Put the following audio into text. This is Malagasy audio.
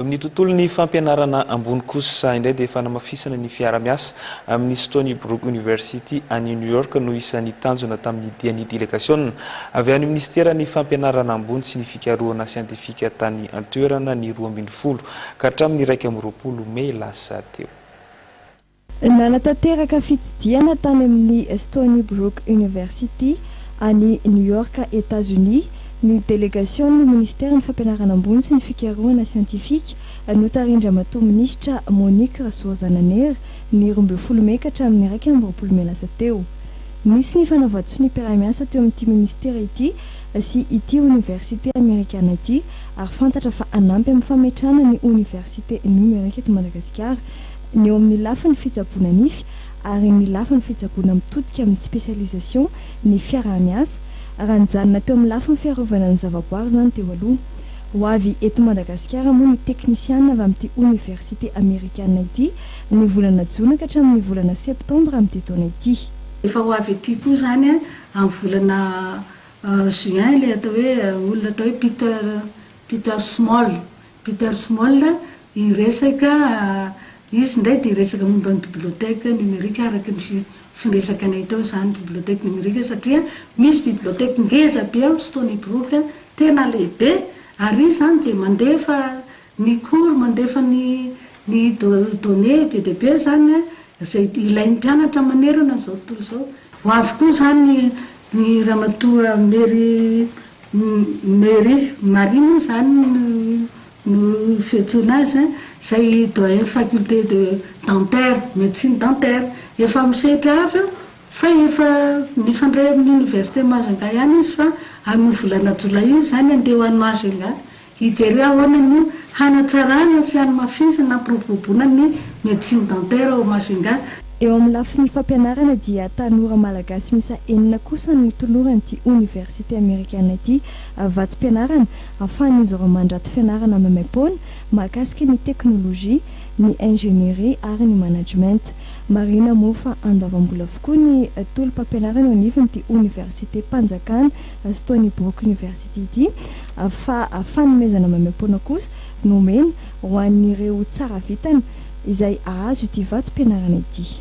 Amin'ny tontolon'ny fampianarana ambony kosa indray dia fanamafisana ny fiara-miasa amin'ny Stony Brook University any New York no isan'ny tanjona tamin'ny dian'ny delegasiona avy any minisiteran'ny fampianarana ambony sy ny fikarohana siantifika tany an-toerana ny roa ambin'ny folo ka hatramin'ny iraika amby roapolo mey lasa teo. Nanatanteraka fitsidihana tany amin'ny Stony Brook University, any New York, Etazonia, ny delegasion'ny Ministeran'ny Fampianarana Ambony sy ny Fikarohana Siantifika, notarihin-dRamatoa Minisitra Monique Rasoazananera, ny roa ambin'ny folo Mey ka hatramin'ny iraika amby roapolo Mey lasa teo. Nisy ny fanavatsiso ny mpiara-miasa teo amin'ity Ministera ity sy ity Oniversite Amerikana ity ary fantatra fa hanampy amin'ny fametrahana ny Oniversite Nomerika eto Madagasikara ny eo amin'ny lafiny fitsaboana nify ary ny lafiny fitsaboana mitodika amin'ny spécialisation ny fiaraha-miasa, raha nijanona teo amin'ny lafiny fiarovana ny zavaboary izany teo aloha. Ho avy eto Madagasikara moa ny teknisiana avy amin'ity oniversite amerikana ity ny volana jona ka hatramin'ny volana septambra amin'ity taona ity. Efa ho avy ety koa izany amin'ny volana juin ilay atao hoe olona atao hoe Peter Peter Small Peter Small, hiresaka, izy indray dia hiresaka momba ny biblioteka nomerika araka ny fi, firesakanay tao izany, biblioteka nomerika satria misy biblioteka ngeza be ao Stony Brook, tena lehibe, ary izy izany dia mandefa ny cours, mandefa ny Ny données be dia be izany izay ilain'ny mpianatra manerana an'izao tontolo izao. Ho avy koa izany ny ramatoa Mary Mary Marie moa izany no fiantsoana azy an, izay doyen faculté de dentaire, médecine dentaire. Efa amin'ny sehatra hafa eo fa efa mifandray amin'ny université Majunga ihany izy fa amin'ny volana jolay io izany handeha ho any Majunga Hijery ahoana no hanatsarana sy hanamafisana hampiroboroboana ny médecine dentaire ao Majunga. Eo amin'ny lafiny fampianarana dia tanora malagasy miisa enina kosa no toloran'ity oniversite amerikana ity vatsim-pianarana ahafahan'izy ireo mandrato fianarana maimaim-poana mahakasika ny teknolojia, ny ingénierie ary ny management. Marihina moa fa andoavam-bola avokoa ny tolom-pampianarana eo anivon'ity oniversitem-panjakana Azo tao ny Brook University ity fa fanomezana maimaim-poana kosa no omena ho an'ireo tsara vintana izay hahazo ity vatsim-pianarana ity.